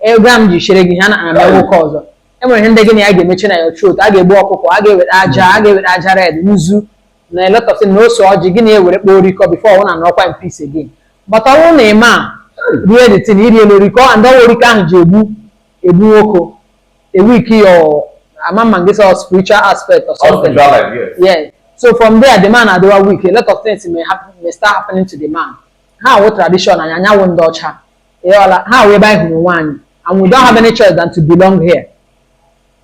ego a m ji chere gị ha na ana m nwoke ọzọ e nwere ihe ndị gị na ya ga-emechi na ya chot a ga-egbu ọkụkọ a ga-ewere aja a ga-ewere aja red nzu na a lot of things na ose ọjị gị na-ewere kpọọ orikọ before ụnụ anọkwa in peace again but ọ bụrụ na ị ma rie the thing iri elu orikọ and ọ wụ orikọ ahụ ji egbu egbu nwoke a weak ya ama ma gị sọ spiritual aspect or All something spiritual life, yes. yes so from there the man adịwa weak a lot of things may happen may start happening to the man ha wụ tradition anyị anyị awụ ndị ọcha ịghọla ha wụ ebe anyị hụrụ onwe anyị and we don't have any choice than to belong here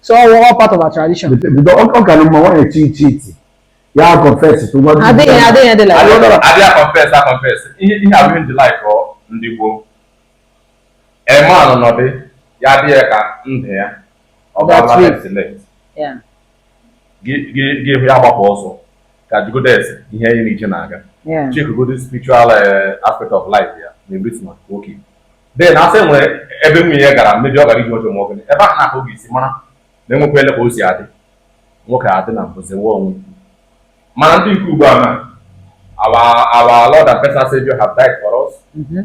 so ọ wụ all part of our tradition Bido ọ ọ kara mma nwaanyị chi cheat ya confess to nwa di adịghị ya. adịghị dị like that. abịa confess a confess ihe ihe abụ ihe ndị like ọ ndị gboo ị manụ na di ya dị ya ka ndụ ya ọ bụ ala left left gị hụ ya gbapụ ọsọ ka jigodes ihe anyị na-eche na-aga checkigodi spiritual eh, aspect of life ya na everything maka okay then a sị e nwere ebe nwunye ya gara maybe ọ gara ije ọjọọ ma ọ gịnị ebe ahụ na-akụ gị isi mara na enwekwa ele ka o si adị nwoke adị na mbụzi nwa onwe mana ndị nke ugbu a na our our lord and personal savior have died for us mm-hmm.